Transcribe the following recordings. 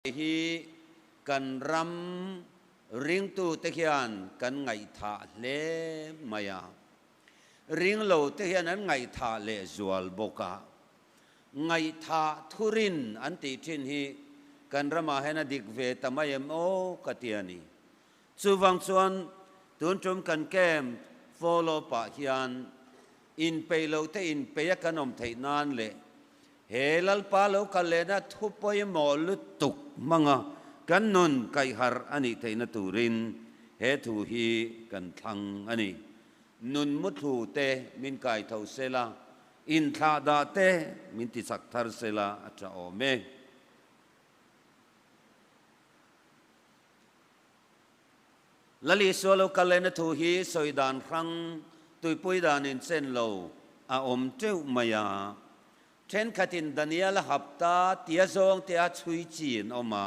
Hei hi kan ram ringtute hian kan ngaihthah hle mai a, ringlote hian an ngaihthah leh zual bawk a, ngaihthah thurin an tih thin hi kan ramah hian a dik ve ta mai em aw ka ti a ni. Chuvang chuan tun tum kan camp follow pah hian in peih lohte in peih a kan awm theih nan leh he Lalpa lo kal lehna thu pawimawh lutuk hmanga kan nun kaih harh a nih theihna turin he thu hi kan thlang a ni. Nun muthlu te min kai tho se la, in thlah dah te min ti chak thar se la a tha awm e. Lali sualo kal en a thu hi sawi dan hrang tuipui dan in chen lo a awm teuh mai a. Thenkhat in Daniela hapta tia zawng te a chhui chi an awm a,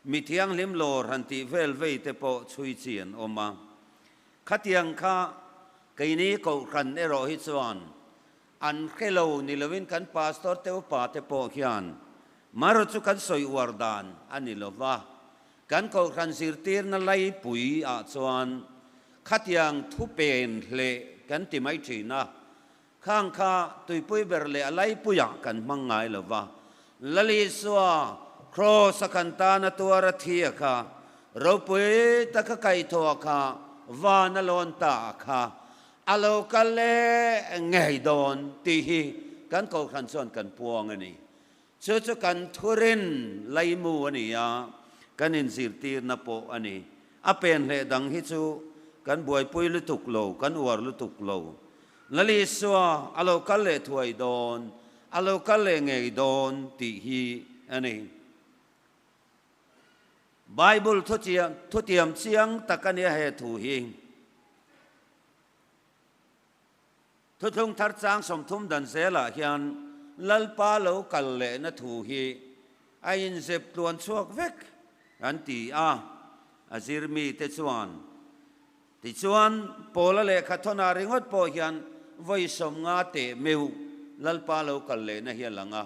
mi thianghlim lawr han tih vel vei te pawh chhui chi an awm a. Khatiang kha keini kohhran erawh hi chuan An hre lo ni lovin kan Pastor te upa te pawh hian Maro chu kan sawi uar dan a ni lo va, kan Kohhran zirtirna laipui ah chuan khatiang thu pen hle kan ti mai thin a, khang kha tuipui ber leh a laipui ah kan hmang ngai lo va, Lalisua Cross a kan tan a tuar a thia kha, ropui taka kaihthawh kha vana lawn ta kha A lo kal leh ngei dawn tih hi kan kohhran chuan kan puang a ni. Chu chu kan thurin Laimu a ni a, kan inzirtirna pawh a ni. A pen hleh dang hi chu kan buaipui lutuk lo, kan uar lutuk lo. Lalisua, a lo kal leh thuai dawn, a lo kal leh ngei dawn tih hi a ni. Bible thuchiam thutiam chiang tak a nia he thu hi. Thuthlung thar chang sawmthum dan zelah hian Lalpa lo kal lehna thu hi a inzep tluan chhuak vek an ti a, a zir mite chuan. Tichuan, Paula lehkha thawna ringawt pawh hian vawi sawmnga teh meuh Lalpa lo kal lehna hi a lang a.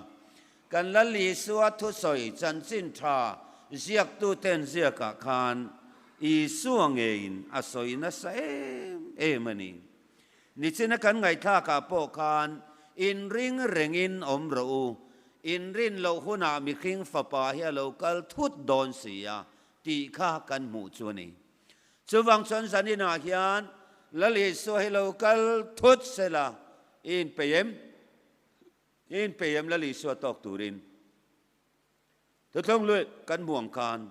Kan Lal Isua thusawi chanchin tha ziaktuten ziakah khan Isua ngeiin a sawi nasa em em a ni. Nichina kan ngaihthlakah pawh khan inring rengin awm rawh u, inrin loh hunah mihring fapa hi a lo kal thut dawn si a tih kha kan hmuh chu a ni. Chuvang chuan zaninah hian Lal Isua hi lo kal thut sela in pei em? Eng pei em lal Isua tawk turin thuthawng luih kan hmu ang khan,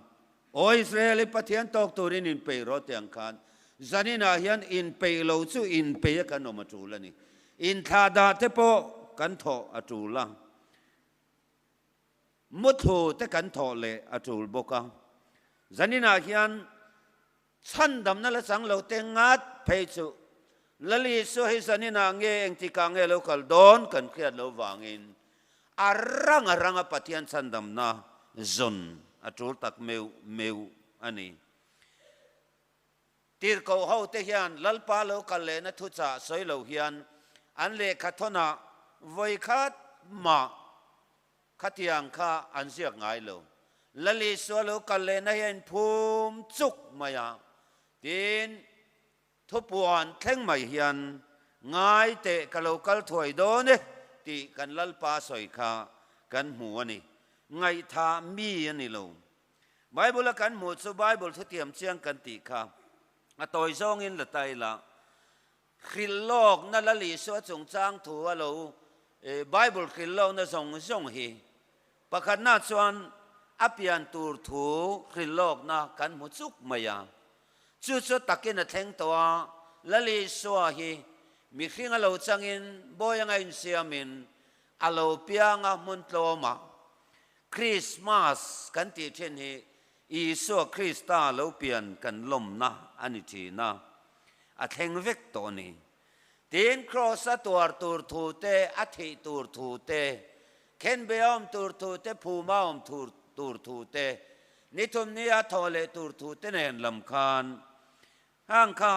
aw Israel in Pathian tawk turin in pei rawh teh ang khan, zanin ah hian in pei lo chu in pei a kan awm a tul a ni. In thla dah te pawh kan thawh a tul a, muthlu te kan thawh leh a tul bawk a, zanin ah hian Chhandamna la chang lo te ngat phei chu Lal Isua hi zanin ah nge engtikah nge lo kal dawn kan hriat lo vangin a ranga ranga Pathian chhandamna zawn a tul tak meuh meuh a ni. Tirhkoh ho te hian Lalpa lo kal lehna thuchah sawi lo hian an lehkha thawnah vawikhat mah Khatiang kha an ziak ngai lo. Lalisua lo kal lehna hi a inphum chuk mai a, tiin thupuan thleng mai hian ngai teh ka lo kal thuai dawn e tih kan Lalpa sawi kha kan hmu a ni. Ngaihthah mi a ni lo. Bible-a kan hmuh chu Bible thutiam chiang kan tih kha a tawi zawngin la ta ila, Hrilh lawk na lal Isua chungchang thu a lo Bible hrilh lawk na zawng zawng hi pakhat na chuan a pian tur thu hrilh lawk na kan hmu chuk mai a. Chu chu takin a thleng tawh a, lal Isua hi mihring a lo chang in bawi anga in siam in a lo piang a hmun tlawm a. Christmas kan tih thin hi Isua Krista lo pian kan lawmna a ni thin a, a thleng vek tawh ni. Tiin kraws a tuar tur thu te, a thih tur thu te, khenbei a awm tur thu te, phum a awm thur tur thu te, ni thum ni a thaw leh tur thu te nen lam khan hang kha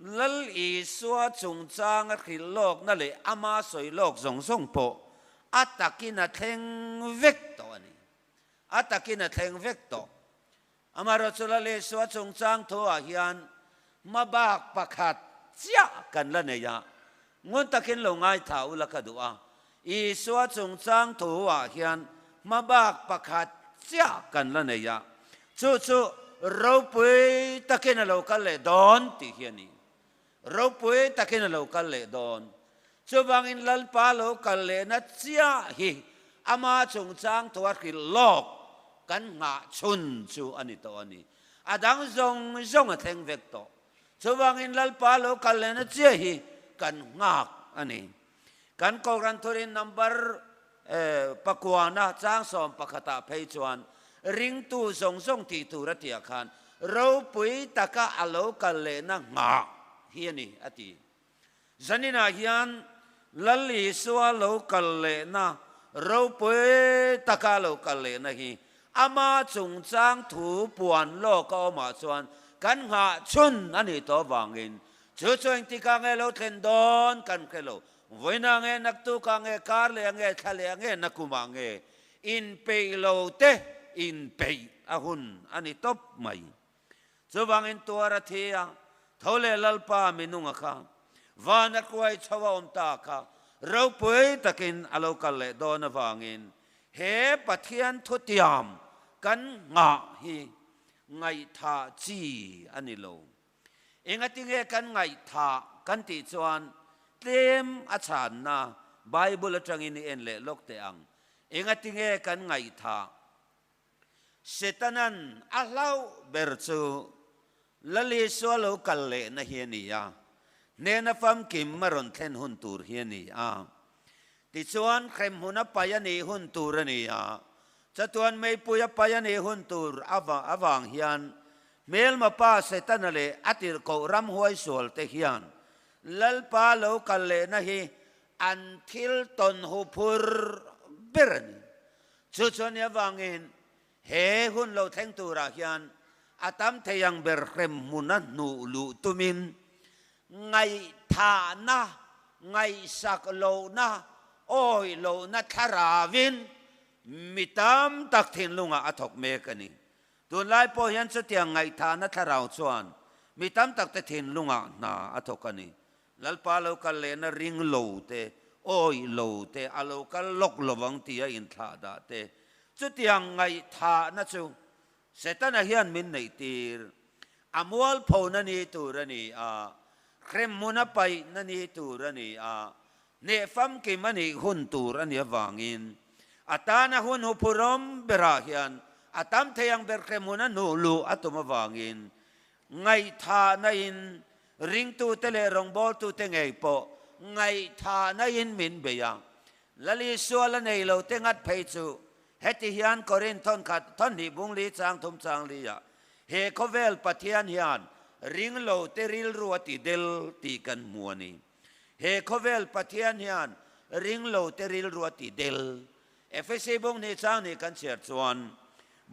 Lal Isua chungchang a hrilh lawkna leh ama sawi lawk zawng zawng pawh a takin a thleng vek tawh a ni. a takin a thleng vek tawh. Amaherawh chu Lalisua chungchang thu-ah hian hma bak pakhat chiah kan la nei a, ngun takin lo ngaithla ula ka duh a, Isua chungchang thu-ah hian hma bak pakhat chiah kan la nei a, chu chu ropui takin a lo kal leh dawn tih hi a ni. Ropui takin a lo kal leh dawn. Chuvangin Lalpa lo kal lehna chiah hi ama chungchang tua hrilh lawk kan nghah chhun chu a ni tawh a ni. A dang zawng zawng a thleng vek tawh. Chuvangin Lalpa lo kal lehna chiah hi kan nghak a ni. Kan Kohhran Thurin Number Pakuana chang sawm pakhatah phei chuan ringtu zawng zawng tih tur a tiah khan ropui taka a lo kal lehna nghah hi a ni a ti. Zaninah hian Lali sual lo kal lehna, ropui taka lo kal lehna hi ama chungchang thu puan lawk a awmah chuan kan nghah chhun a ni tawh vangin Chu chu eng tikah nge lo tlen dawn kan hre lo. Vawiinah nge, naktukah nge, kar lehah nge, thla lehah nge, na kumah nge, in peih lo te in peih a hun a ni tawp mai. Chuvangin tuar a thi a, tho leh lalpa minung a kha, van a kuai chho a awm ta kha ropui takin a lo kal leh dawn avangin he Pathian thutiam kan nghah hi ngaihthah chi a ni lo. Engatinge kan ngaihthah kan tih chuan tlem a chhanna Bible atangin i en leh lawk teh ang? Engatinge kan ngaihthah? Setana'n a hlauh ber chu Lalisua lo kal lehna hi a ni a, hnena famkim a rawn thlen hun tur hi a ni a. Tichuan Hremhun a pai a nih hun tur a ni a, Chatuan Meipui a pai a nih hun tur avang hian Hmelmapa Setana leh a tirh koh ram huaisual te hian Lalpa lo kal lehna hi an thil tawn hu phur ber a ni. Chu chuan ni avangin He hun lo thleng turah hian a tam thei ang ber hrem hmuna hnuh luh tumin ngaihthahna, ngaihsak lohna, awi lohna thlarauin mi tam tak thinlungah a thawk mek a ni. Tunlai pawh hian chutiang ngaihthahna thlarau chuan mi tam takte thinlungah hna a thawk a ni. Lalpa lo kal lehna ring lo te, awi lo te, a lo kal lawk lovang tia inthlah dah te. Chutiang ngaihthahna chu Setana hian min neih tir. A mualphona ni tur a ni a, hremmun a paihna ni tur a ni a, hneh famkim a nih hun tur a ni avangin a tana hun hupurawm berah hian a tam thei ang ber hremmun a nuhluh a tum avangin Ngaihthahna in ringtute leh rawngbawltute ngei pawh ngaihthahna in min bei a. Lali sual a nei lo te nghat phei chu heti hian Korin thawnkhat thawhnih bung li chang thum chang li a, he khawvel Pathian hian ring lo te rilru a ti del tih kan hmu a ni. He khawvel Pathian hian ringlote rilrua ti del. Efesi bung ni chang ni kan chhiar chuan,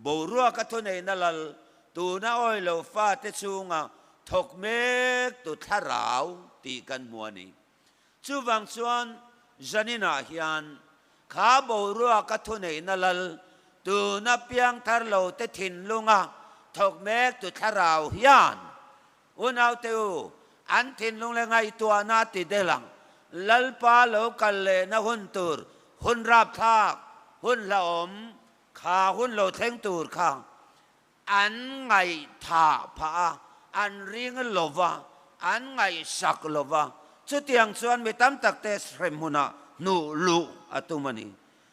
boruaka thuneihna lal tuna awilo fate chunga thawk mek tu thlarau tih kan hmu a ni. Chuvang chuan Janina hian kha boruaka thuneihna lal tuna piang tharlote thinlunga thawk mek tu thlarau hian Unaute u, an thinlung leh ngaihtuahna ti del ang. Lalpa lo kal lehna hun tur hun rapthlak, hun hlauhawm kha hun lo thleng tur kha an ngaihtha phah a, an ring lova a, an ngaihsak lova. Chutiang chuan mi tam takte hrem huna hnuh luh a tum a ni.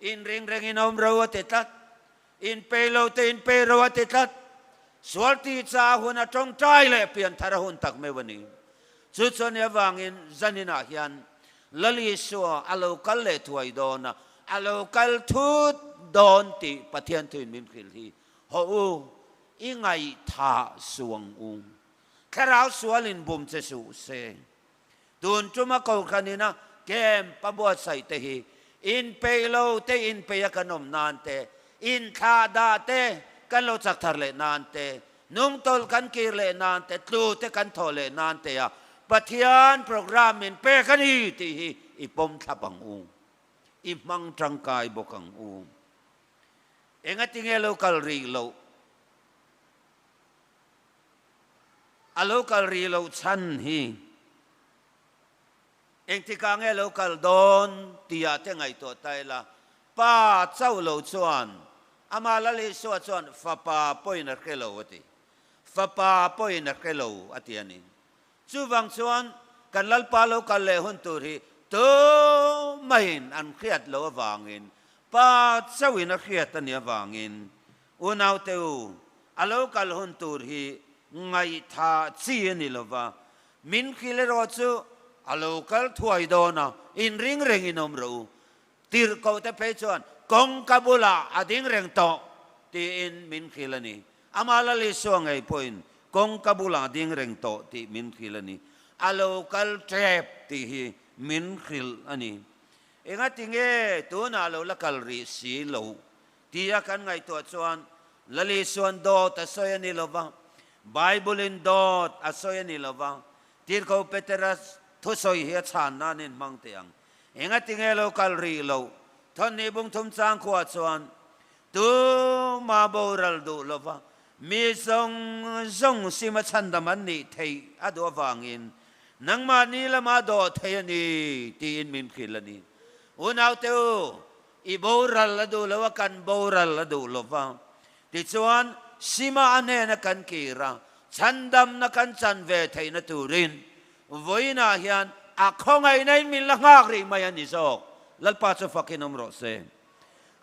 In ringreng in awm ro a ti tlat, in pei lo te in pei ro a ti tlat, sual ti caah hun a tawngtai leh pian thar a hun tak meuh a ni. Chu chuan nia vangin zanin ah hian Lal Isua a lo kal leh thuai dawn a, a lo kal thut dawn tih Pathian thuin min hrilh hi hawh u, i ngaihthah suang u, thlarau sual in bum che suh seh Tun tuma Kohhranin a camp a buatsaih te hi in peih lo te in peih a kan awm nan te, in thlah dah te kan lo chak thar leh nan te, nung tawlh kan kir leh nan te, tlu te kan thawh leh nan te a Pathian program in pek a ni tih hi i pawm thlap ang u, i hmang tangkai bawk ang u. Engatinge lo kal rih loh? a lo kal rih lo chhan hi engtikah nge lo kal dawn tihah te ngaihtuah ta ila, pa chauh lo chuan amah Lalisua chuan fapa pawhin a hre lo a ti, fapa pawhin a hre lo a ti a ni. Chuvang chuan kan Lalpa lo kal leh hun tur hi tumahin an hriat loh avangin, pa chauhin a hriat a nih avangin Unaute u, a lo kal hun tur hi ngaihtha chi a ni lova, min kil erawh chu a lo kal thuai dawn a, in ring rengin awm rawh u, tirhkoh te phei chuan kawng ka bulah a ding reng tawh tiin min kil a ni, amah la Lisuah ngei pawhin kawng ka bulah a ding reng tawh tih min kil a ni, a lo kal tep tih hi min hrilh a ni. Engatinge tunah a lo la kal rih si lo Ti a kan ngaihtuah chuan Lali suan dawt a sawi a ni lo va, Bible-in dawt a sawi a ni lo va, Tirhko Petera thusawi hi a chhan nan in hmang teh ang. Enga tinge lo kal rih lo, thawn ni bungthum changkhuaa chuan tu ma boral duh lo va, mi zawng zawng sima chhandam an nih theih a duh avangin nangmah ni lama dawt thei a ni tiin min philh a ni. Unaute u, I boral a duh lo a, kan boral a duh lo va. Tichuan, Sima-a hnena kan kir a, chhandamna kan chan ve theihna turin vawiinah hian a khawngaihna in min la nghak rih mai a ni zawk. Lalpa chu fakin awm rawh se.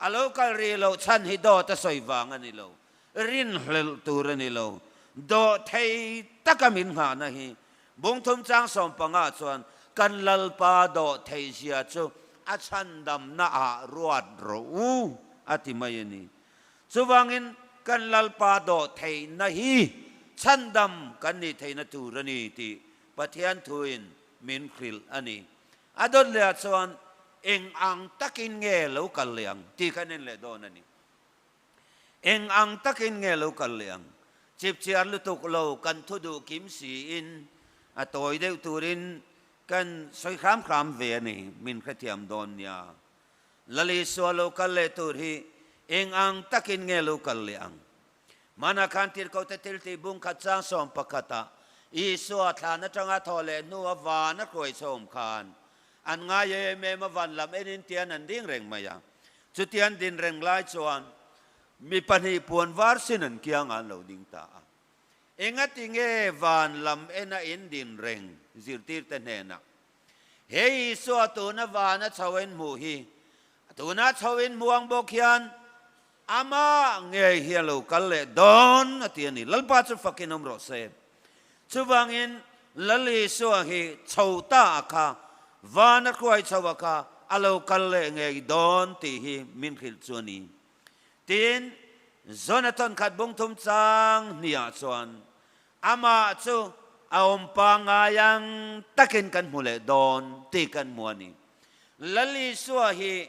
A lo kal rih loh chhan hi dawt a sawi vang a ni lo. Rin hlelh tur a ni lo. Dawhthei taka min nghahna hi Bungthum chang sawm panga chuan kan Lalpa Dawhtheizia chu a chhandamna ah ruat rawh u a ti mai a ni. Chuvangin kan Lalpa Dawhtheihna hi chhandam kan nih theihna tur a ni tih Pathian thuin min hrilh a ni. A dawt lehah chuan eng ang takin nge lo kal leh ang tih kha nen leh dawn a ni. Eng ang takin nge lo kal leh ang? Chipchiar lutuk lo kan thu duh kim siin a tawi deuh turin kan sawi hram hram ve a ni, min hre thiam dawn nia. Lali sual lo kal leh tur hi eng ang takin nge lo kal leh ang? Hmanah khan tirkote thiltih bung khat chang sawm pakhatah Isua thlan atanga thaw leh hnu a van a hruai sawm khan An ngai e em em a van lam en in tian an ding reng mai a. Chutian din reng lai chuan mi pahnih puan var sin an kiang a an lo ding ta a. Engati nge van lam en a in din reng? Zirtir te hnenah he Isua tuna van a chho in hmuh hi a tunah chho in hmuang bawk hian Amah ngei hian lo kal leh dawn a ti a ni. Lalpa chu fakin awm rawh se. Chuvangin Lalisua hi chho ta a kha, van a hruai chho a kha, a lo kal leh ngei dawn tih hi min hrilh chu a ni. Tiin Jonathan khat bungthum chang hniah chuan amah chu a awm pangngai ang takin kan hmu leh dawn tih kan hmu a ni. Lalisua hi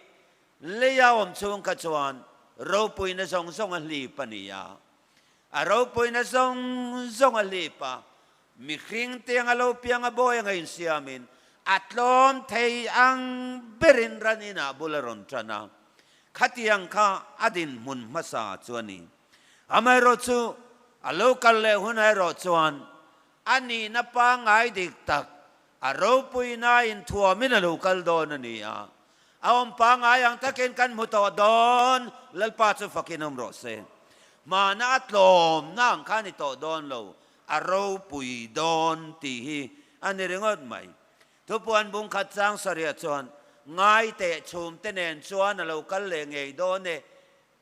Lei a awm chhung kha chuan ropuina zawng zawng a hlip a ni a, a ropuina zawng zawng a hlip a, mihring te anga lo piang a bawi anga insiamin a tlawm thei ang berin ran inah bul a rawn tan a, khatiang kha a dinhmun hmasa chu a ni. Amaherawhchu a lo kal leh hun ah erawh chuan A nihna pangngai dik tak, a ropuina inthuam in a lo kal dawn a ni a, a awm pangngai ang takin kan hmu tawh dawn, Lalpa chu fakin awm rawh se, hmana a tlawmna ang kha a ni tawh dawn lo, a ropui dawn tih hi a ni ringawt mai. Thupuanbung khat Changsaria chuan ngaiteh chhumte nen chuan a lo kal leh ngei dawn e,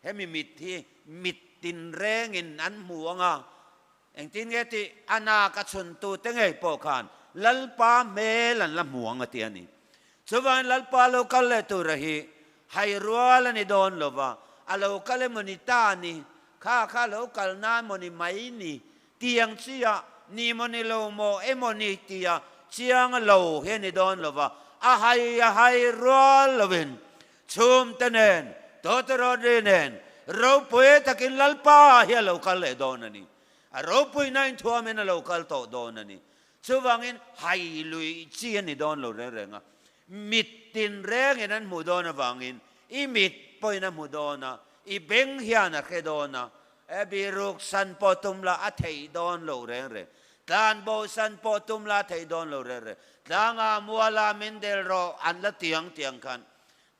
hemi mit hi mit tinrengin an hmu anga Engtin nge tih, a nak a chhuntu te ngei pawh khan Lalpa hmel an la hmu ang a ti a ni. Chuvain Lalpa lo kal leh tura hi hai rual a ni dawn lo va, a lo kal emawni ta ni, kha kha lo kal nan maw ni mai ni tiang chia ni maw ni lo maw emaw ni tia chiang lo hi a ni dawn lo va, a hai a hai rual lovin Chhum te nen Toto Rodri nen ropui takin Lalpa ah hian lo kal leh dawn a ni. A ropuina inthuam in a lo kal tawh dawn a ni. Chuvangin hai lui chi a ni dawn lo reng reng a. Mit tinreng in an hmuh dawn avangin i mit pawhin a hmu dawn a, i beng hian a hre dawn a, Abby ruk san pawh tum la a theih dawn lo reng reng. Tlan bo san pawh tum la a theih dawn lo reng reng. Tlanga muala min del rawh an la tiang tiang khan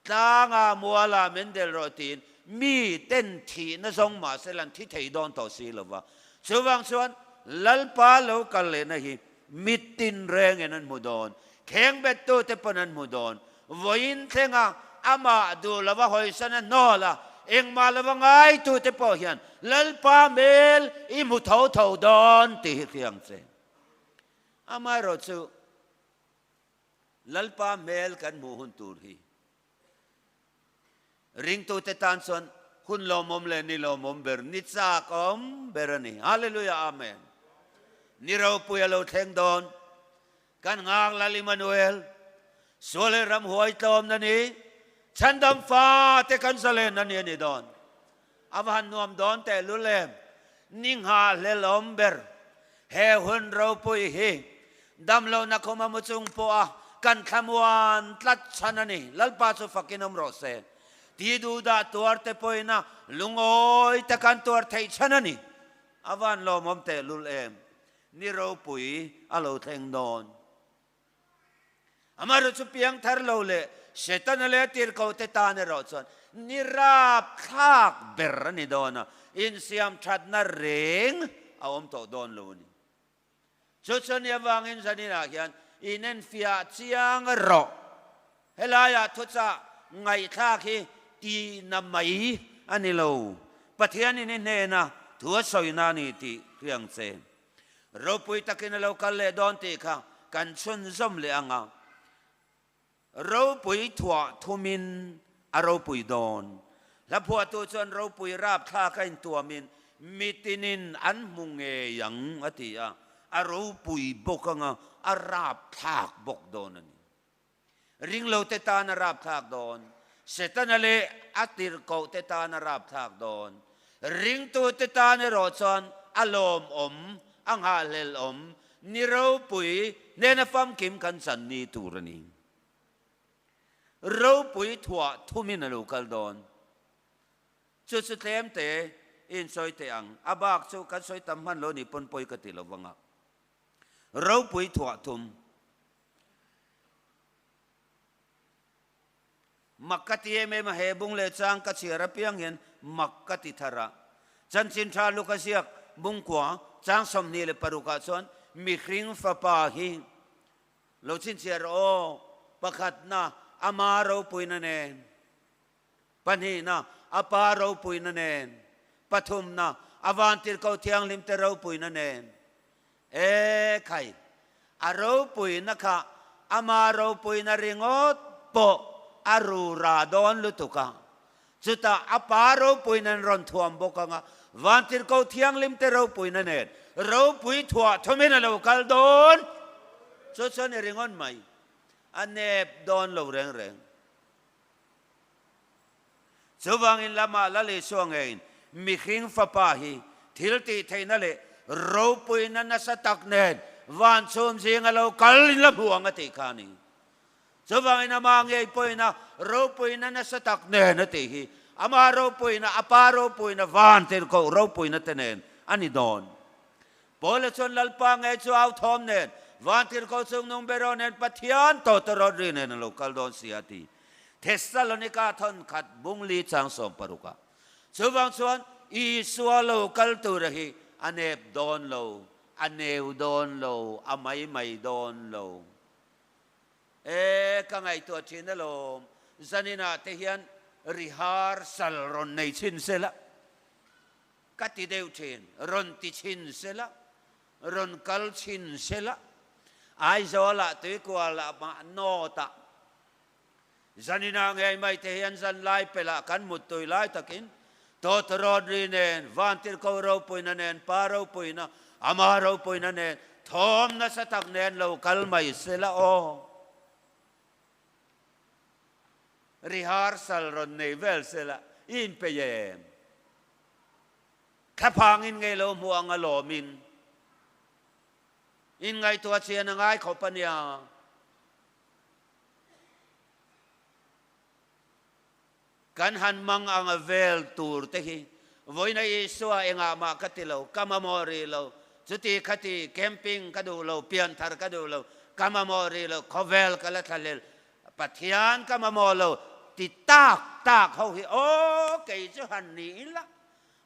tlanga muala min del rawh tiin mi ten thihna zawng mahse la an thi thei dawn tawh si lova. Chuvang chuan Lalpa lo kal lehna hi Mit tinreng in an hmu dawn, kheng bet tu te pawh an hmu dawn, vawi in thleng a, amah duh lo a hawi sana nawl a, engmah lo a ngai tu te pawh hian Lalpa hmel i hmu tho tho dawn tih hi fiang che. Amaherawhchu Lalpa hmel kan hmuh hun tur hi Ringtute tan chuan hun lawmawm leh ni lawmawm ber ni chak awm ber a ni. Hallelujah! Amen! Ni ropui a lo thleng dawn. Kan nghak lal Immanuel, sual leh ram huai tlawmna ni, chhandam fate kan zawlenna ni a ni dawn. A va han nuam dawn teh lu le, ni nghah hle lawm ber. He hun ropui hi damlohna khawma mu chung pawha kan thla muan tlat chhan a ni. Lalpa chu fakin awm rawh se. Ti duh dah tuar te pawhina lungawi te kan tuar theih chhan a ni. A va han lawmawm teh lul em. Ni ropui a lo thleng dawn. Amaherawh chu piang thar lo leh Setana leh a tirhkohte tan erawh chuan ni rap thlak ber a ni dawn a, insiam thatna reng a awm tawh dawn lo a ni. Chu chu nia vangin zaninah hian inenfiah chiang erawh helaiah thuchah ngaihthlak hi tihna mai a ni lo, Pathian in i hnena thu a sawina a ni tih hriang chen. Ropui takin a lo kal leh dawn tih kha kan chhunzawm leh ang a, ropui thuah thumin a ropui dawn. Hlaphuahtu chuan ropui rapthlak a intuamin mitinin an hmu ngei ang a ti a, a ropui bawk anga a rapthlak bawk dawn a ni. Ringlote tana rapthlak dawn, Setana leh a tirhkohte tana rapthlak dawn, ringtute tan erawh chuan a lawmawm, a nghahhlelawm, ni ropui hnena famkim kan channi tur a ni. Ropui thuah thumin a lo kal dawn. Chu chu tlemte i insawi teh ang, a bak chu kan sawi tam hmanlo ni pawn pawi ka ti lo vang a, ropui thuah thum Mak ka ti em em a, he bung leh chang ka chhiar apiang hian mak ka ti thar a. Chanchin tha lu ka ziak Mungkua chang sawmhnih leh paruk ah chuan mihring fapa hi lo chhinchhiar aw pakhatna ama ropuina nen. Pahnihna, a Pa ropuina nen. Pathumna, a Vantirhko Thianghlimte ropuina nen. E khai, a ropuina kha ama ropuina ringawt pawh a ru ra dawn lutuk a. Chutah a Pa ropuina in rawn thuam bawk anga Vantirhko Thianghlimte ropuina nen ropui thuah thawmin a lo kal dawn. Chu chuan i ringawt mai, a nep dawn lo reng reng. Chuvangin lamah Lal Isua ngeiin, Mihring Fapa hi thil tih theihna leh ropuina nasa tak nen vancum zing a lo kal in la hmu ang a tih kha a ni. Chuvangin amah ngei pawhin a ropuina nasa tak nen a tih hi amah ropuina, a pa ropuina, van tirhkoh ropuina te nen a ni dawn. Paula chuan Lalpa ngei chu au thawm nen, Vântir ko chung nung ber aw nen Pathian tawta rawt ri nen a lo kal dawn si a ti. Thessalonika thawnkhat bungli chang sawm paruka. Chuvang chuan Isua lo kal tura hi a nep dawn lo, a neu dawn lo, a mai mai dawn lo. E, ka ngaihtuah thin alawm, zaninah te hian rihârsal rawn nei chhin sela. Ka ti deuh thin, rawn ti chhin se lah, rawn kal chhin se lah, Aizawlah tuikual ah mah nawt ah Zanina ngei mai te hian zanlai pel ah kan mut tui lai tak in Tawt Rodri nen, Vantirhko Ropuina nen, Pa Ropuina, Ama Ropuina nen thawm nasa tak nen lo kal mai se lah aw. Rehearsal rawn nei vel sela i inpeih em? Thlaphang in ngei lo hmuh ang a lawm in in ngaihtuah chian a ngai khawp a nia. Kan han mang anga vel tur te hi Vawina Isua engah mah ka ti lo, ka mamawh rih lo, chuti khati camping ka duh lo, pian thar ka duh lo, ka mamawh rih lo, khawvel ka la thlahlel, Pathian ka mamawh lo ti tak tak ho hi aw kei chu han ni ila,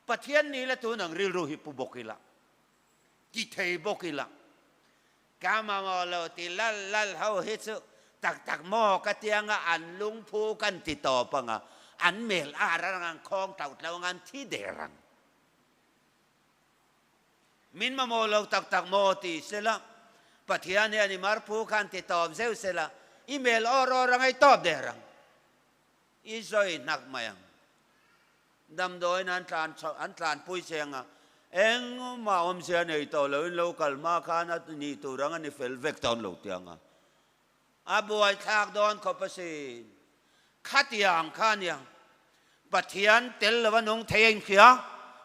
Pathian ni la tun ang rilru hi pu bawk ila, ti thei bawk ila, Ka mamawh lo ti lal lal ho hi chu tak tak maw ka ti anga an lungphu kan ti tawp anga an mel a rang ang khawng tlo tlo anga an thi der ang. Min mamawh lo tak tak maw ti se la, Pathian hian i marphu khan ti tawp zeuh se la, i mel awr awr anga i tawp der ang. I zawi hnak mai ang. Damdawiin an tlan chho, an tlan pui che ang a. Engmah awmzia nei tawh loin lo kal hma khan a nih tur ang a ni fel vek tawn lo ti ang a. A buaithlak dawn khaw pasin khatia ang kha a ni ang. Pathian tel lo a nung thei a inhria,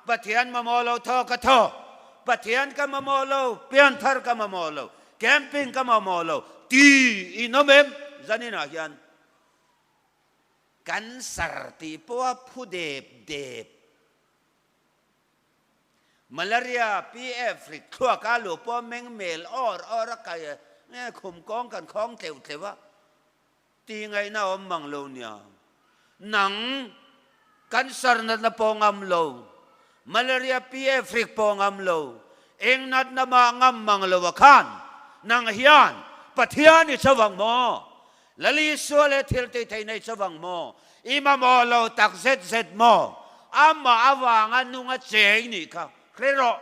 Pathian mamawh lo thaw ka thaw, Pathian ka mamawh lo, pianthar ka mamawh lo, camping ka mamawh lo tiin awm em? Zaninah hian Kan sar ti pawha phu dep dep. Malaria PF rit thluak a luh pawha meng mel awr awr a kai a, nge khum kawng kan khawng tleuh tleuh a, ti ngaihna awm mang lo nia. Nang Cancer natna pawh ngam lo, Malaria PF rik pawh ngam lo, eng natna mah ngam mang loah khan nang hian Pathian i chho ang maw? Lal Isua leh thiltih theihna i chho ang maw? I mamawh lo tak zet zet maw? Amah avanga nung a che i nih kha hre rawh.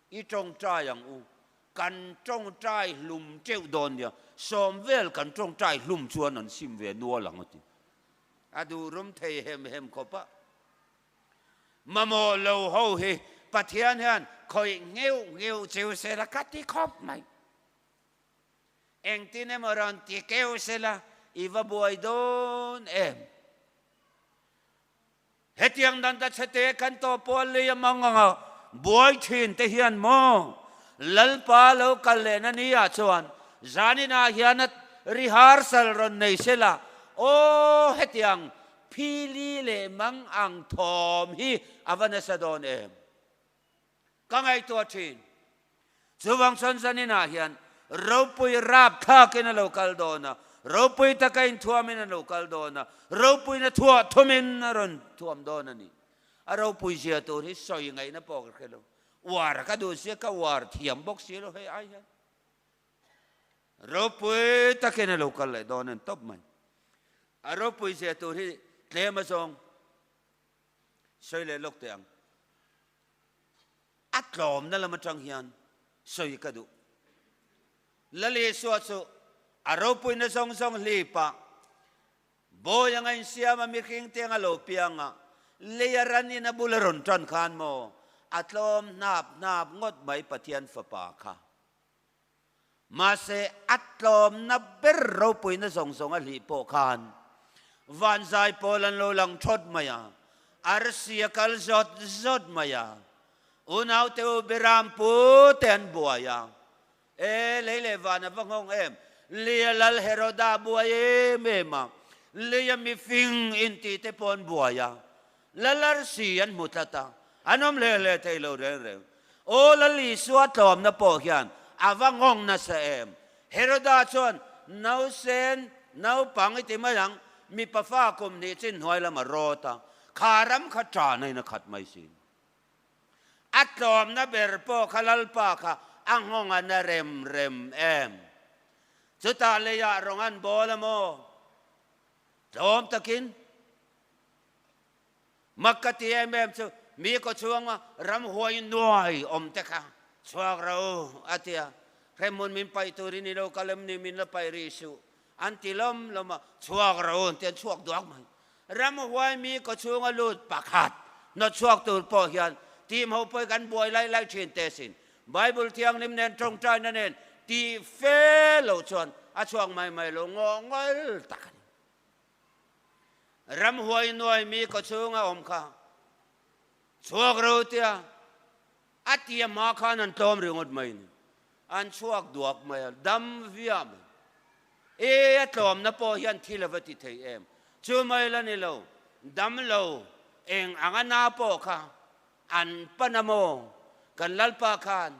I tawngtai ang u, kan tawngtai hlum teuh dawn nia, sawm vel kan tawngtai hlum chuan an sim ve nual ang a ti. A duhrum thei hem hem khawpa mamawh lo ho hi Pathian hian khawih ngheuh ngheuh cheu sela ka ti khawp mai. Engtin emaw rawn ti keu sela i va buai dawn em? Hetiang dan ta chhe te kan tawpawl lei a mang anga buai thin te hian maw Lalpa lo kal leh na ni ah chuan zanin ah hian a rehearsal rawn nei se la aw hetiang phili leh mang ang thawm hi a va nasa dawn em. ka ngaihtuah thin. Chuvang chuan zaninah hian ropui rap thlakin a lo kal dawn a, ropui taka inthuamin an lo kal dawn a, ropuina thuah thumin a rawn thuam dawn a ni. A ropui zia tur hi sawi ngaihna pawh ka hre lo. Uar ka duh sia, ka uar thiam bawk si lo hei ai hian. Ropui takin a lo kal leh dawn a ni tawp mai. A ropui zia tur hi tlem azawng sawi leh lawk teh ang. A tlawmna lam atang hian sawi ka duh. Lalisua chu a ropuina zawng zawng hlip a, Bawi anga insiam a mihring te anga lo piang a, lei a ran in a bul a rawn tan khan maw a tlawm hnap hnap ngawt mai Pathian Fapa kha. Mahse, a tlawmna ber ropuina zawng zawng a hlih pawh khan vanzai pawl an lo lang thawt mai a, a rsia kal zawt zawt mai a, unaute u Biram pu te an buai a, E, lei leh van a va nghawng em, Leia lal Heroda a buai em em a, Leia mifing inti te pawh an buai a. La lar si an hmu tlat a, an awm hle hle thei lo reng reng. Aw Lal Isua tlawmna pawh hian a va ngawng nasa em? Heroda chuan, Nausen, naupang i ti mai ang, mipa fa kum hnih chin hnuai lam a rawt a, kha ram kha ṭan a in a khat mai si. A tlawmna ber pawh kha Lalpa kha a nghawng a na rem rem em? Chutah leiah rawng an bawl a maw? Tlawm takin Mak ka ti em em chu mi kaw chhunga ram huai nuai awm te kha chhuak ro a ti a, Hremmun min paih turin i lo kal em ni min la paih rih suh an ti lawm lawm a, chhuak ro an ti an chhuak duak mai. Ram huai mi kaw chhunga lut pakhat hnawt chhuak tur pawh hian tih hmauh pawih kan buai lai lai thin te sin Bible thianghlim nen tawngtaina nen tih fe lo chuan a chhuak mai mai lo ngawh ngawil tak a ni. ram huai nuai mi ka chunga awm kha chhuak ro tia a ti a hma khan an tlawm ringawt mai ni an chhuak duak mai a dam viah mai e a tlawm na pawh hian thil ava ti thei em chu mai la ni lo dam lo eng anga na pawh kha an pan a maw kan lalpa khan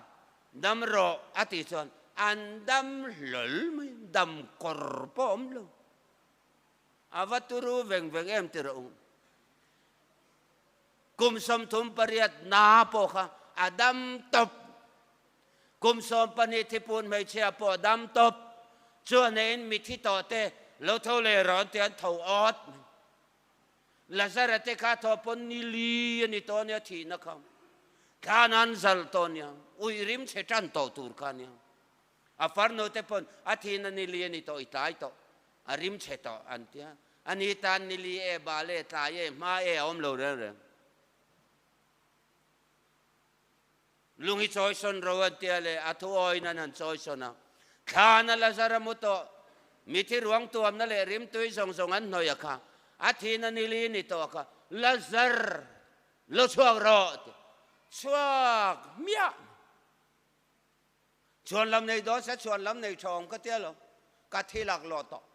dam rawh a ti chuan an dam hlawl mai dam kawr pawh awm lo. a va turu veng veng em ti rawh kum sawmthum pariat na pawh kha a dam tawp kum sawm pahnih thipun hmeichhia pawh a dam tawp chuan in mithi tawh te lo tho le rawn ti an tho awt lazara te kha tho pon ni li ani to nia thi na kha khan an zal to nia ui rim che tan to tur kha nia A far note pawn a thin a nili ani tawh i tlai tawh a rim che tawh an ti a, a ni tan nili e bal e tlai e hma e a awm lo reng reng. Lung hi chawi sawn ro an tia le a thu awiin an han chawi sawn a, thlan a la zar a mu tawh mithi ruang tuamna leh rim tui zawng zawng an hnawih a kha a thin a nili ani tawh a kha la zar lo chhuak rawh tia chhuak miah. Chuan lam nei dawn se, chuan lam nei tha awm ka tia lo, ka thi lak lawh tawh,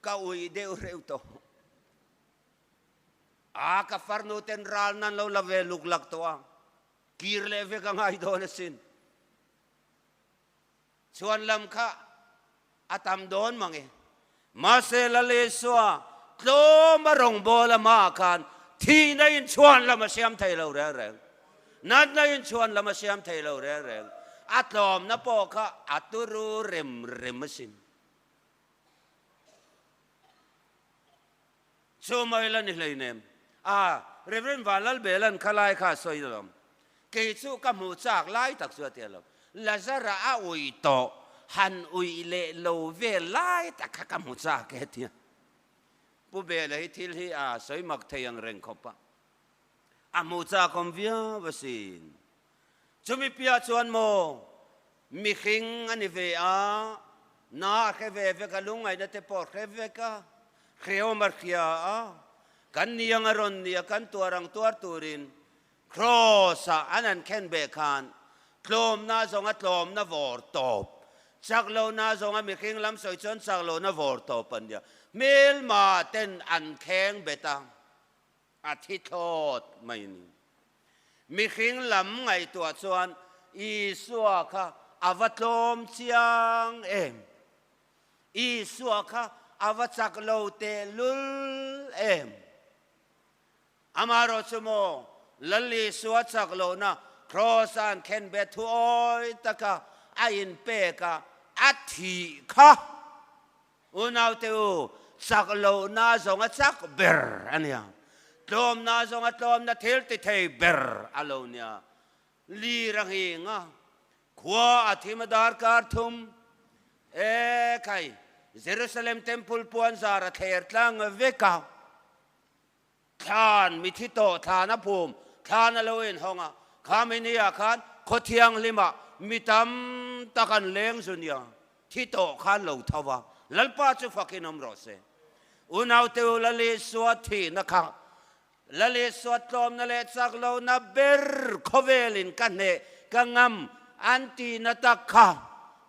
ka ui deuh reuh tawh. A ka farnu ten ral nan lo la ve luk lak tawh a, kir leh vek a ngai dawn asin. Chuan lam kha. A tam dawn mang e. Mahse Lalisua tlawma rawngbâwl amah khan thihna inchhuan lam a siam thei lo reng reng. Natna inchhuan lam a siam thei lo reng reng. A tlawmna pawh kha a turu rem rem a sin. Chu mai la ni hleinem. Ah, Rev. Van Lalbelan Khalai kha a sawi alawm. Kei chu ka hmuh chak lai tak chu a ti alawm. Lazara a ui tawh, han ui leh lo vel lai tak kha ka hmu chak e a ti a. Pu Bela hi thil hi a sawi mak thei ang reng khawp a. A hmuh chakawm viau asin. Chu mipia chuan maw mihring a ni ve a, na a hre ve vek a, lungngaihna te pawh a hre vek a, hreawm a hria a, kan niang a rawn nia kan tuar ang tuar turin Kraws ah an han khen beh khan tlawmna zawng a tlawmna vawr tawp, chak lohna zawng a mihring lam sawi chuan chak lohna vawr tawp a nia hmelmah ten an kheng bet a. A thi thlawt mai ni. Mihring lam ngaihtuah chuan Isua kha a va tlawm chiang em? Isua kha a va chak lo tehlul em? Amah erawh chu maw Lal Isua chak lohna Kraws a an thlen bet thuawi taka a inpek a, a thih kha? Unaute u chak lohna zawnga chak ber a nia, tlawmna zawnga tlawmna thil ti thei ber a lo nia. Lir a nghing a, khua a thim a darkar thum e khai, Jerusalem Temple puan zar a thler tlang vek a, Thlan, mi thi tawh thlan a pum, thlan a lo inhawng a, kha mi ni ah khan khaw thianghlim ah mi tam tak an leng zu nia, thi tawh kha an lo tho va, Lalpa chu fak in awm rawh se. Unaute u Lalisua thih na kha Lalisua tlawm na leh chak lo na ber khawvel in ka hneh ka ngam an ti na tak kha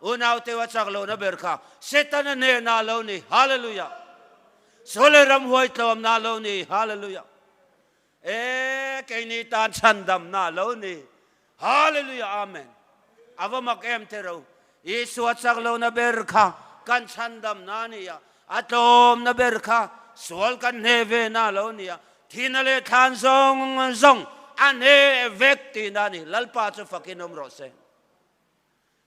Unaute u a chak lo na ber kha Setana hneh na lo ni, Hallelujah. Sawlei ram huai tlawm na lo ni Hallelujah e keini tan chhan dam na lo ni Hallelujah Amen a va mak em te ro Isua chak lo na ber kha kan chhan dam na nia a tlawm na ber kha sual kan hne ve na lo nia thina leh thlan zawng zawng a hne vek ti na ni Lalpa chu fakin awm rawh se.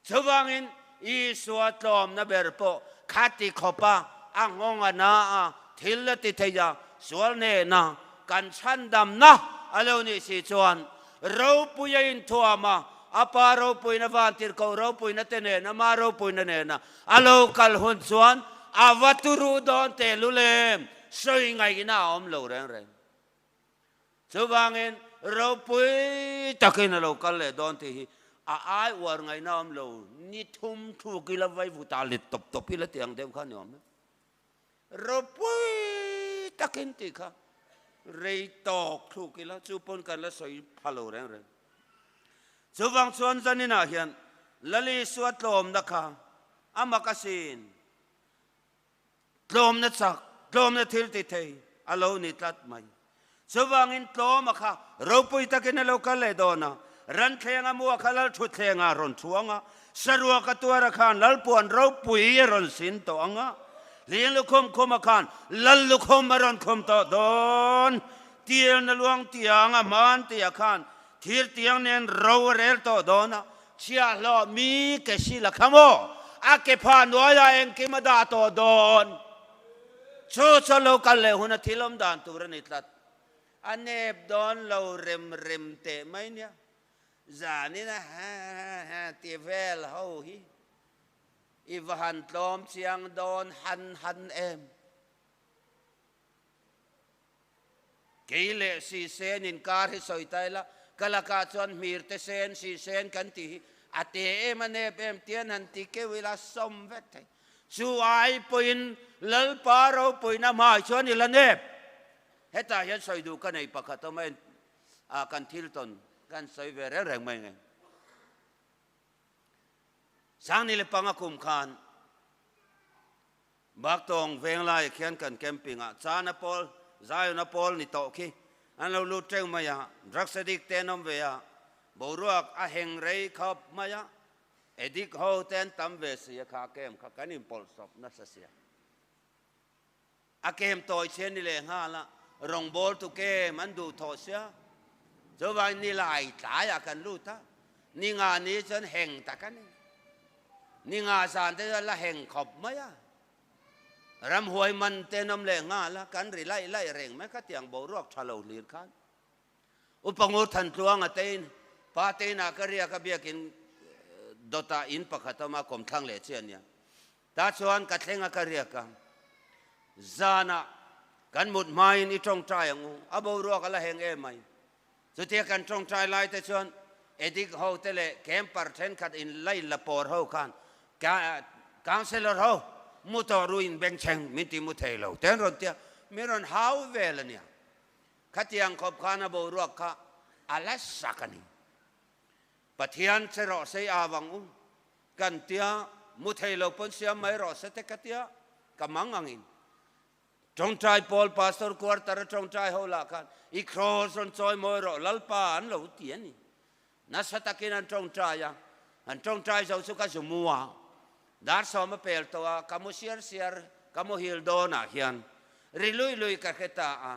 Chuvangin, Isua tlawmna ber pawh khati khawpa a nghawng a na a, thil a ti theih a, sual nena kan chhandamna a lo nih si chuan ropui a inthuam a, a pa ropuina vantirhkoh ropuina te nena ma ropuina nena a lo kal hun chuan a va turu dawn teh lu lem sawi ngaihna a awm lo reng reng. Chuvangin ropui takin a lo kal leh dawn tih hi a ai uar ngaihna awm lo, ni thum thuk ila vaivuta let tawp tawp ila ti ang deuh kha ni awm e. Ropui takin tih kha rei tawk thuk ila chu pawn kan la sawi pha lo reng reng. Chuvang chuan zaninah hian Lali suat tlawmna kha a makasin tlawmna chak, tlawmna thil ti thei a lo ni tlat mai. Chuvangin tlawma kha ropui takin a lo kal leh dawn a, Ranthleng a mu a kha lal thutthleng ah a rawn thu ang a, saruak a tuar a khan lal puan ropui a rawn sin tawh ang a, hling lukhum khum a khan lal lukhum a rawn khum tawh dawn. Tirna luang tiang a hman ti a khan thir tiang nen ro a rel tawh dawn a, Chhia hlawh mi ke si la kha maw? A ke pha nuai ah engkim a dah tawh dawn? Chu chuan lo kal leh hun a thil awm dan tur a ni tlat. A nep dawn lo rem rem teh mai nia. Zan in a ha ha ti vel ho hi. I va han tlawm chiang dawn han han em? Kei leh sisen in kar hi sawi ta ila, ka lakah chuan hmir te sen, sisen kan tih hi a te em a nep em tian han ti keu ila sawm vek thei. Chu ai pawhin Lalpa ropawina hmaah chuan ila nep. Hetah hian sawi duh ka nei pakhat awm a, kan thil tawn kan sawi ve reng reng mai ngei. Sang ni le panga kum khan Baktawng veng laiah khian kan camping ah chana pawl, Zion a pawl ni tawh khi an lo lut teuh mai a, drugs addict te an awm ve a, boruak a heng rei khawp mai a, addict ho te an tam ve si a kha camp kha kan inpawlh sawp nasa sia. A kem tawi chian ni leh nghal a, rawngbâwl tu kem an duh thawh sia. Chuvain ni lai tlaiah kan lut a, ni nga ni chuan heng tak a ni. Ni nga zân te chuan la heng khawp mai a. Ramhuai man te nawm leh nghal a, kan ri laih laih reng mai kha tiang boruak ṭha lo hlir khan. U Pangur Thantluanga tein pa tein ah ka riak a biakin dawtah in pakhat a awm a, Kawmthlang leh chiah nia. Tah chuan ka thleng a ka riak a, zanah kan mut hmain i tawngtai ang u, a boruak a la heng em mai. Chutia kan tawngtai lai te chuan Edict ho te leh Camper thenkhat in line la pawr ho khan Councillor ho, mu tawh ru in beng cheng, min ti mu thei lo teh an rawn ti a, min rawn hau vel a nia. Khatiang khawp khan a boruak kha a la sak a ni. Pathian che rawh se a vang u kan tia hmu thei lo pawn siam mai rawh se te ka tia ka mang ang in tawngtai pawl pastor quarter a tawngtai ho lah khan i cross rawn chawi mawi rawh lalpa an lo ti a ni nasa takin an tawngtai a an tawngtai zo chu ka zu mua dar sawm a pel tawh a ka mu siar siar ka mu hil dawn ah hian ri lui lui ka hre ta a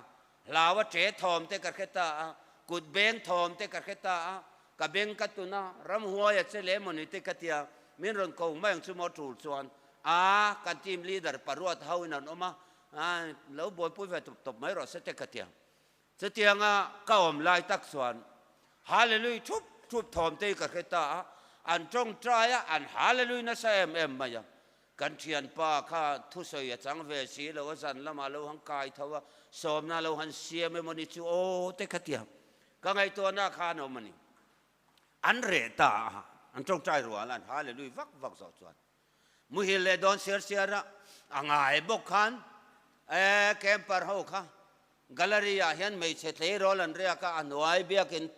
Hlaua che thawm te ka hre ta a, kut beng thawm te ka hre ta a, ka beng ka tun a, ram huaia che leh maw ni te ka ti a, min rawn ko mai ang chu maw tul chuan, aa, kan team leader pa ruat ho in an awm a, aa, lo buaipui ve tawp tawp mai rawh se te ka ti a. Chutiang a ka awm lai tak chuan Hallelujah thup thup thawm te hi ka hre ta a, an tawngtai a, an Hallelujah nasa em em mai a, Kan thianpa kha thusawi a chang ve si lo, a zan lamah lo han kai tho a, sawmna lo han siam emaw ni chu aw te kha tia ka ngaihtuahna kha an awm a ni. An reh ta a, an tawngtai rual an ha leh lui vak vak zawh chuan muhil leh dawn siar siar a a ngai bawk khan ee camper ho kha Gallery ah hian hmeichhe tleirawl an riak a, a hnuai biakin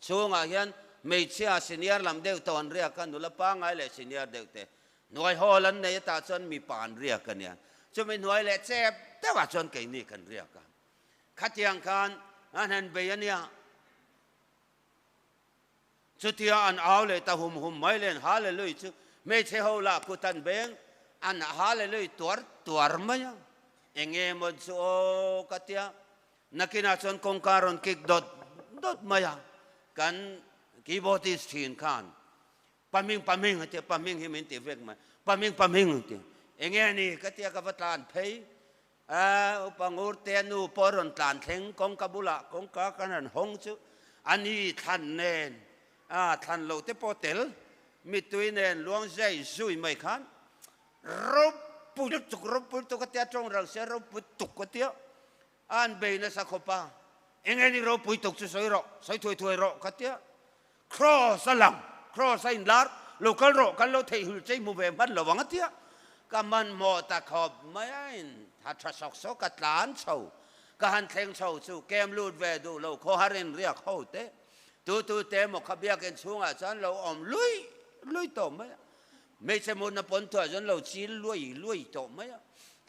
chhungah hian hmeichhia senior lam deuh tawh an riak a, nula pangngai leh senior deuh te hnuai hawl an nei a tah chuan mipa an riak a nia. Chumi hnuai leh chep deuh ah chuan keini kan riak a, khatiang khan a hnen bei a nia. Chutia an au leh ta hum hum mai len Hallelujah chu hmeichhe ho lah kut an beng an Hallelujah tuar tuar mai a, enge maw chu aw ka tia nakinah chuan kawngka a rawn kik dawt dawt mai a, kan keyboardist thin khan paming paming a tia paming hi min ti vek mai paming paming a tia enge ni ka tia ka va tlan phei A upa ngurte nu pawh rawn tlan thleng kawngka bulah kawngka kan han hawng chu a ni thlan nen a thlan lo te pawh tel mitui nen luangziai zui mai khan ropui lutuk tuk ropui tuk a tia tawng rang se ropui tuk a tia a an bei nasa khawpa enge ni ropui tuk chu sawi rawh sawi thuai thuai rawh ka tia Cross a lang, Cross a inlar lo kal rawh, kan lo theihhul chei hmu ve hman lo ang a tia ka hmanhmawh ta khawp mai a, in ha tha sawk sawk ka tlan chho, ka han thleng chho chu kem lut ve duh lo khawhar in riak ho teh tu tu te emaw kha biakin chhungah chuan lo awm luih luih tawh mai a, hmeichhe mutna pawntuah chuan lo chil luai luai tawh mai a,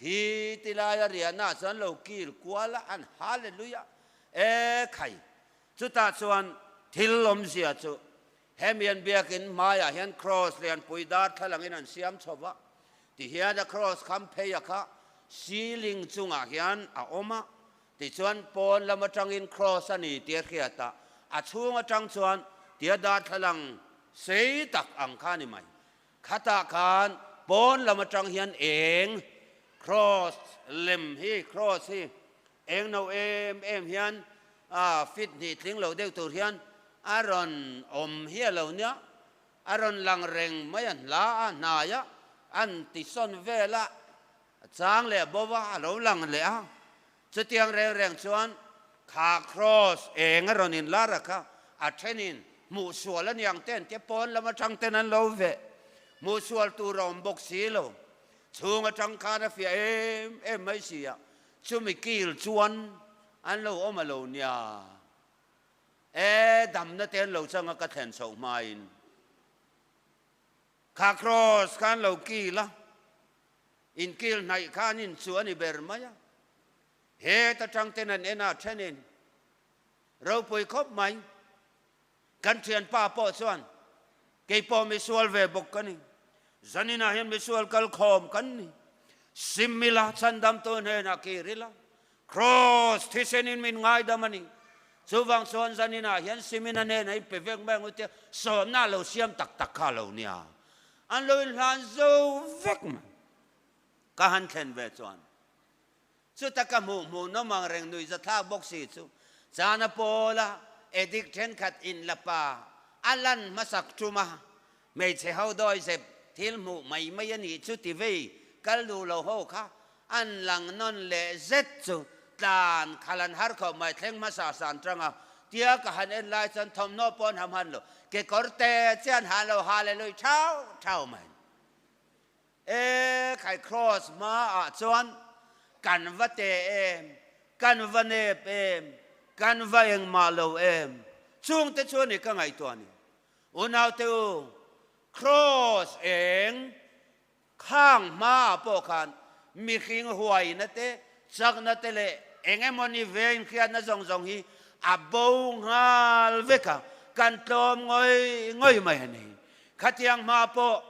hi ti laia riahna ah chuan lo kil kual a, an ha le luih a, e khai Chutah chuan thil lawmzia chu hemi an biakin hmaiah hian kraws lianpui darthlangin an siam chho va, tihian a kraws kham pheia kha ceiling chungah hian a awm a, tichuan pawn lam atangin kraws a ni tia hriat a, a chhung atang chuan tia darthlalang sei tak ang kha a ni mai. Khatah khan pawn lam atang hian eng cross lem hi, cross hi eng no em em hian a fit hnih tling lo deuh tur hian a rawn awm hi a lo nia, a rawn lang reng mai a hla a hnai a, an tisawn vel a chang leh bova a lo lang leh a, Chutiang reng reng chuan kha kraws enga rawn in lar a kha, a thenin hmuh sual a niang te ante pawn lam atang ten an lo ve, hmuh sual tur a awm bawk si lo, chhung atang khan a fiah em em mai si a, chumi kil chuan an lo awm a lo nia e, damna te an lo chang a ka thlen chhoh hmain. Kha kraws kha an lo kil a, inkil hnaih kha an inchuh a ni ber mai a, heta tangten an en a thenin ropui khawp mai. Kan thianpa pawh chuan keipawh misual ve bawk ka ni, zaninah hian misual kalkhawm kan ni, Simila chandamtu hnenah kir ila Kraws thisen in min ngaidam a ni. Chuvang chuan zanin ah hian simin a nen a in pe vek mai ang u tia sawmna lo siam tak tak kha lo nia an lo in hlan zo vek mai. Ka han thlen ve chuan chuta ka hmuh hmuh nawm ang reng nui za thlak bawk si chu chana pawl a Edic thenkhat in la pa a lan hmasak tum a Hmeichhe ho dawi zep thil hmuh mai mai a nih chu ti vei kal duh lo ho kha an lang nawn leh zet chu tlan khal an har khawp mai thleng hmasa san tang a tia ka han en lai chuan thawmhnaw pawn ha hman lo kekawr te chian han lo ha leh lui thau thau mai e khai cross hma ah chuan kan va te em kan va nep em kan va engmah lo em chungte chuan i ka ngaihtuah ni. Unaute u, Kraws eng khang hmaah pawh khan mihring huaina te, chakna te leh eng emawni vengkhiatna zawng zawng hi a bo nghal vek a, kan tlawm ngawih ngawih mai a ni. Khatiang hma pawh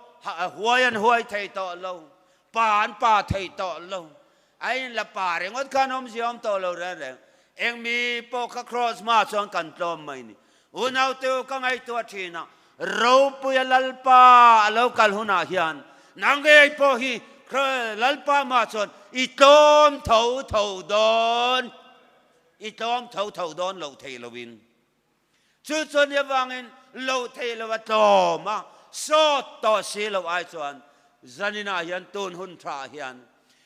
huai an huai thei tawh lo, pa an pa thei tawh lo, A in la pa ringawt khan awm zia awm tawh lo reng reng. Eng mi pawh ka cross hma chuan kan tlawm mai ni. U naute u ka ngaihtuah thin a, Ropuia Lalpa a lo kal hunah hian na ngei pawh hi Lalpa hma chuan i tlawm tho tho dawn, i tlawm tho tho dawn lo thei lo in. Chu chuan nia vangin lo theih lo a tlawm a, sawt tawh si loh ai chuan zaninah hian tun hun tha ah hian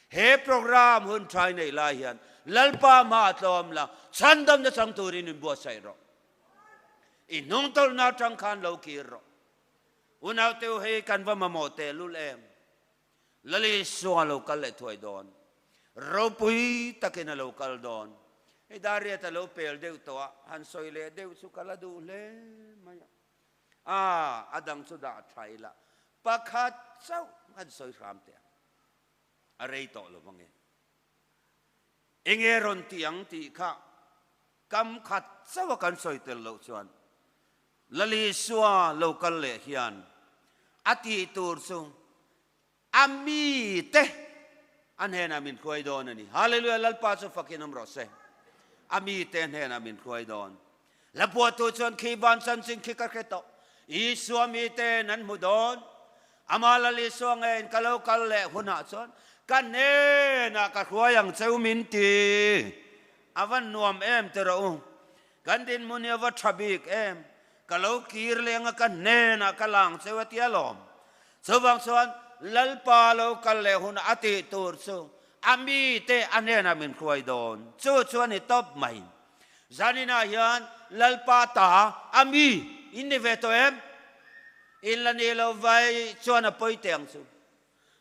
he program hun thai neih lai hian Lalpa hma a tlawm la, chhan dam na chang turin in buatsaih rawh, i hnung tawlhna atang khan lo kir rawh, unaute u hei kan va mamawh tehlul em. Lali sung a lo kal leh thuai dawn. Ropui takin a lo kal dawn. Hei Dariat a lo pel deuh tawh a, han sawi leh deuh chu ka la duh hle mai a. Aa, a dang chu dah thlai la, pakhat chauh han sawi hram teh ang. A rei tawh lo vang e. Enge rawn tih ang tih kha kam khat chauh a kan sawi tel loh chuan, Lali sua lo kal leh hian a tih tur chu a mi te a hnenah min hruai dawn a ni. Hallelujah! Lalpa chu fakin awm rawh se, a mi te hnenah min hruai dawn. La buattu chuan khi ban chanchin khi ka hre tawh, Isua mi te nan hmu dawn, Amah Lali sua nge in ka lo kal leh hunah chuan ka hnenah ka hruai ang cheu min ti, a va nuam em ti rawh u. Kan dinhmun hi a va tha bik em, ka lo kir leng a, ka hnenah ka lang cheu a ti alawm. Chuvang chuan Lalpa lo kal leh hunah a tih tur chu a mite a hnenah min hruai dawn, chu chuan i tawp mai. Zaninah hian Lalpa ta, a mi, in ni ve tawh em? In la ni lo vai chuan a pawi teng chu.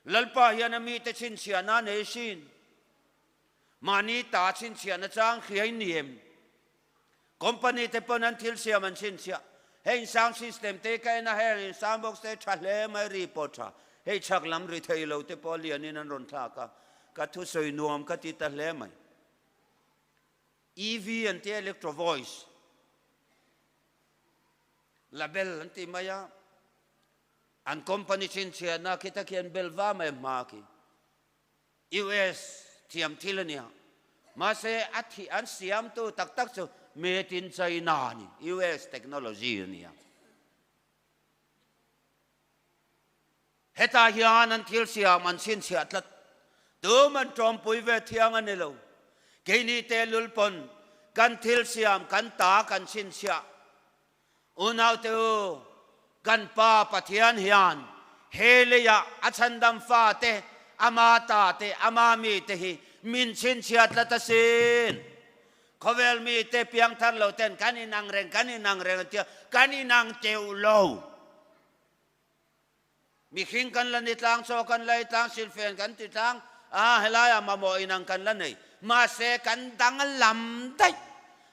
Lalpa hian a mite chhinchhiahna nei hrin. Mahni ta chhinchhiah na chang hliai ni em? Company te pawn an thil siam an chhinchhiah. Hei insang system te ka en a heng insang box te tha hle mai ri pawh tha. Hei chhak lam ri thei lo te pawh lian in an rawn thlak a. Ka thu sawi nuam ka ti ta hle mai. EV an ti a electro voice label an ti mai a. An company chhinchhiah na khi ta khian bel va mai hma khi. US thiam thil a nia. Mahse a thih an siamtu tak tak chu made in China a ni, US technology a nia. Hetah hian an thil siam an chhinchhiah tlat. Tum an ṭawmpui ve thiang a ni lo. Keini te lul pawn kan thil siam kan ta kan chhinchhiah Unaute u, kan Pa Pathian hian he leiah a chhandam fate, ama ta te, ama mite hi min chhinchhiat la ta sin. Khawvel mite piang thar lo ten kan inang reng, kan inang reng an tia, kan inang teuh lo. Mihring kan la ni tlang chaw, kan la itlang, silfen kan ti tlang, aa helaiah mamawh in ang kan la nei. Mahse kan danglam daih.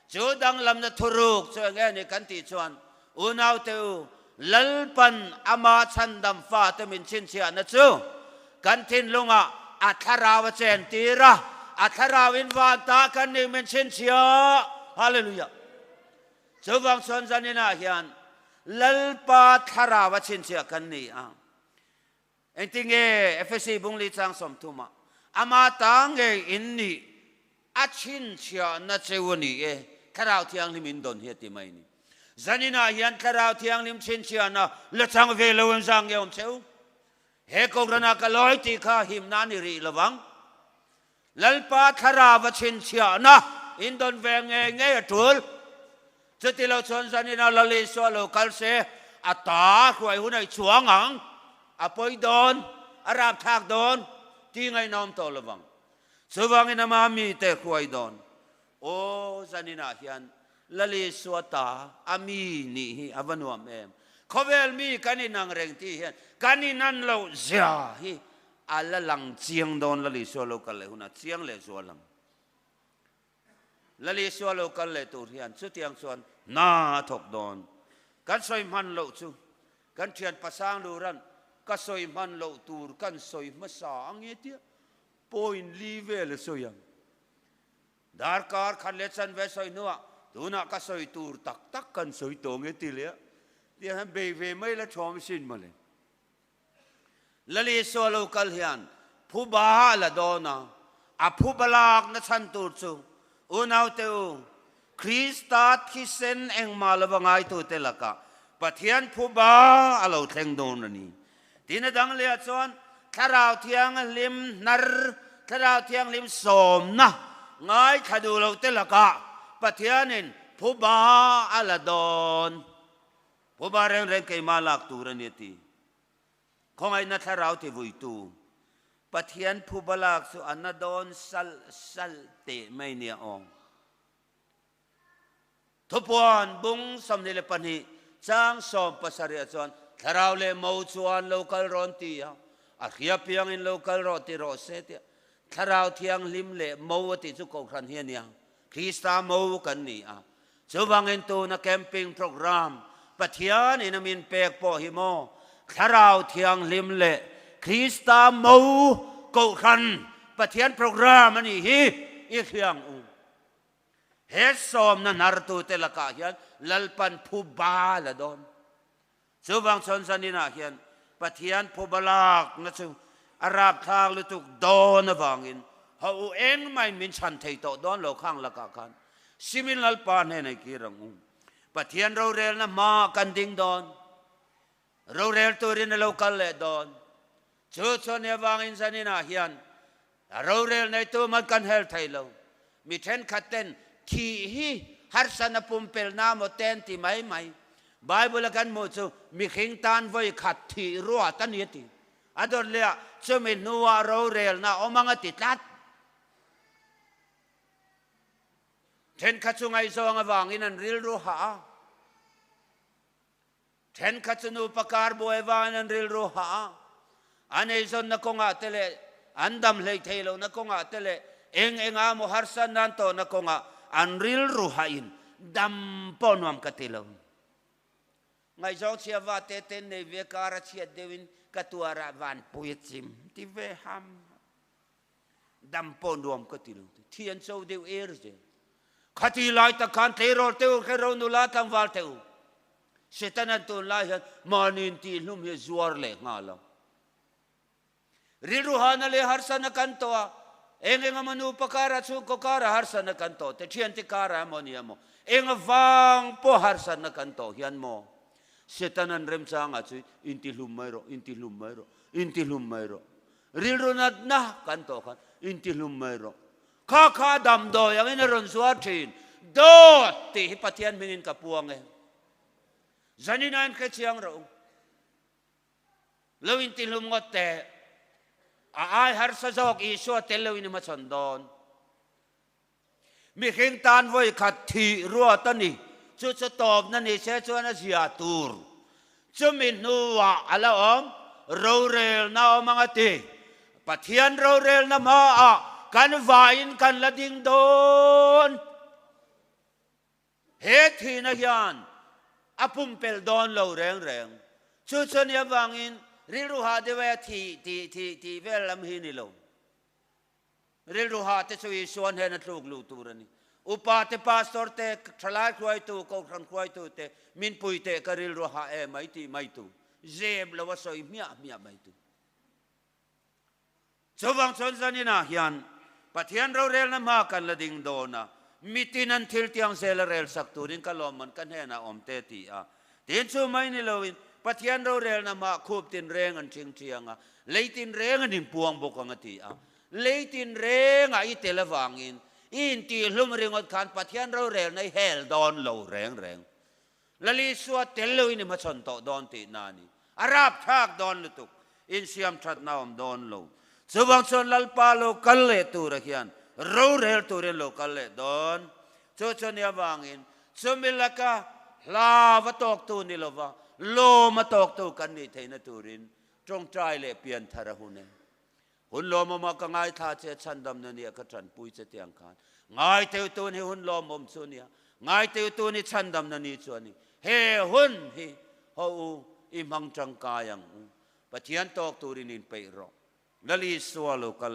Chu danglamna thuruk chu enge a ni kan tih chuan unaute u Lalpan ama chhandam fate min chhinchhiahna chu kan thinlungah a thlarau a chen tir a, a thlarau in vantah kan nih min chhinchhiah. Hallelujah! Chuvang chuan zaninah hian Lalpa thlarau a chhinchhiah kan ni a, engti nge Efesi bungli chang sawmthuma ama ta ngeiin nih a chhinchhiahna cheu a ni e, Thlarau Thianghlim in dawn hi a ti mai ni. Zaninah hian Thlarau Thianghlim chhinchhiahna la chang ve lo in zang nge awm cheu? He kawngranah ka lawi tih kha himna a ni rih lovang. Lalpa thlarau va chhinchhiahna in dawn ve ngei ngei a tul. Chuti lo chuan zanina Lali saw lo kal se, a ta hruai hun ei chuang ang, a pawi dawn, a rapthlak dawn ti ngainawm tawh lovang. Chuvangin amah mite hruai dawn Aw zaninah hian Lalisua ta a mi nih hi a va nuam em? Khawvel mi kan inang reng tih hian kan inan loh zia hi a la lang chiang dawn Lalisua lo kal leh hunah chiang leh zual ang. Lalisua lo kal leh tur hian chutiang chuan hna a thawk dawn. Kan sawi hman loh chu kan thian Pasang Luran ka sawi hman loh tur kan sawi hmasa ange tia point li vel a sawi ang. Darkar khat leh chanve sawi hnuah tunah ka sawi tur tak tak kan sawi tawh nge ti leh a, ti a han bei ve mai la thawm sin maw le. Lal Isua lo kal hian phu ba a la dawn a, a phu ba lakna chhan tur chu unaute u Krista thisen engmah lo va ngaitute lakah Pathian phuba a lo thleng dawn a ni. Tin a dang leh ah chuan Thlarau Thianghlim hnar, Thlarau Thianghlim sawmna ngaithla duh lo te lakah Pathianin phuba a la dawn. Phuba rengreng keimah lak tur a ni a ti. Khawngaihna thlarau tivuitu Pathian phu balak chu a na dawn salh salh teh mai nia aw. Thupuan bung sawmhnih leh pahnih chang sawm pasarih-ah chuan thlarau leh mo chuan lo kal rawn ti a, a hria piangin lo kal rawh ti rawh se tih a, thlarau thianghlim leh mo a tih chu kohhran hi a nia. Krista mo kan ni a, chuvangin tuna camping programme Pathian in a min pek pawh hi maw Thlarau Thianghlim leh Krista mo Kohhran Pathian programme a nih hi i hliang u. He sawmna hnartute lakah hian Lalpan phu bal a dawn. Chuvang chuan zaninah hian Pathian phuba lakna chu a rapthlak lutuk dawn avangin haw u engmah-in min chhan thei tawh dawn lo khang lakah khan Simil Lalpa hnena i kir ang u. Pathian rorelna hma kan ding dawn, rorel turin a lo kal leh dawn. Chu chuan nia vangin zaninah hian A rorel neitu man kan hel thei lo. Mi thenkhat ten thih hi harsatna pumpelna maw te an ti mai mai. Bible a kan hmuh chu mihring tan vawi khat thih ruat a ni a ti. A dawt leh a chumi hnuah rorelna a awm ang a ti tlat. Thenkhat chu ngaihzawng avangin an rilru hah a. Thenkhat chu nupa kar buai vain an rilru hah a, an eizawnna kawngah te leh an dam hleithei lohna kawngah te leh eng enga maw harsa nan tawhna kawngah an rilru hahin dam pawh nuam ka ti lo. Ngaihzawng chhia va tete nei ve kara chhiat deuhin ka tuarah vanpui a chim ti ve ham. Dam pawh nuam ka ti lo te. Thian cho deuh er zel. Khati lai tak khan tleirawl teu khe ro nu la tlangval teh u. Satan an tawn lai hian mahni intih hlum hi zuar leh nghal ang. Rilru hana leh harsana kan tawh a, eng eng emaw nupa karah, chhungkaw karah harsana kan tawh te, thiante karah emaw ni emaw eng avang pawh harsana kan tawh hian maw Satan an remchangah chuan intihlum mai rawh, intihlum mai rawh, intihlum mai rawh. Rilru natna kan tawh khan intihlum mai rawh. Kha kha damdawi angin a rawn zuar thin. Dawt! Tih hi Pathian hmingin ka puang e. Zanina in hrechiang rawh u. Lo intihlum ngawt teh. A ai harsa zawk Isua tello in i hmachhawn dawn. Mihring tan vawikhat thih ruat a ni. Chu chu tawpna ni se chuan a zia tur chumi hnuah a la awm rorelna awm ang a ti. Pathian rorelna hmaah kan vaiin kan la ding dawn. He thihna hian a pumpel dawn lo reng reng. Chu chu nia vangin rilru hah deuh e a thih tih vel lam hi ni lo. Rilru ha te chu Isua hnena a tluk lu tur a ni. Upa te, pastor te, thalai hruaitu, kohhran hruaitu te, min pui teh ka rilru ha e mai tih mai tu, zep lo a sawi hmiah hmiah mai tu. Chuvang chuan zanin ah hian Pathian rorelna hma kan la ding dawn a, mitin an thil tiang zel a rel sak turin ka lawmman ka hnenah awm teh ti a Tin chu mai ni loin Pathian rorelna mah khup tinreng an ching chiang a, lei tinreng an inpuang bawk ang a ti a. Lei tinrengah i tel avangin i intihhlum ringawt khan Pathian rorelna i hel dawn lo reng reng. Lalisuat tel loin i hmachhawn tawh dawn tihna nih A rap thlak dawn lutuk in siam thatna awm dawn lo. Chuvang chuan Lalpa lo kal leh tura hian rorel turin lo kal leh dawn. Chu chu nia vangin chumi laka hlav a tawktu ni lova lawm a tawktu kan nih theihna turin tawngtai leh pianthar a hun e. Hun lawmawm a ka ngaithla che chhandam na nia ka tanpui che tiang khan ngaiteu tun hi hun lawmawm chu nia ngaiteu tun hi chhandam na ni chu ani he hun hi haw u i hmang tangkai ang u Pathian tawk turin in peih rawh na li sual u ka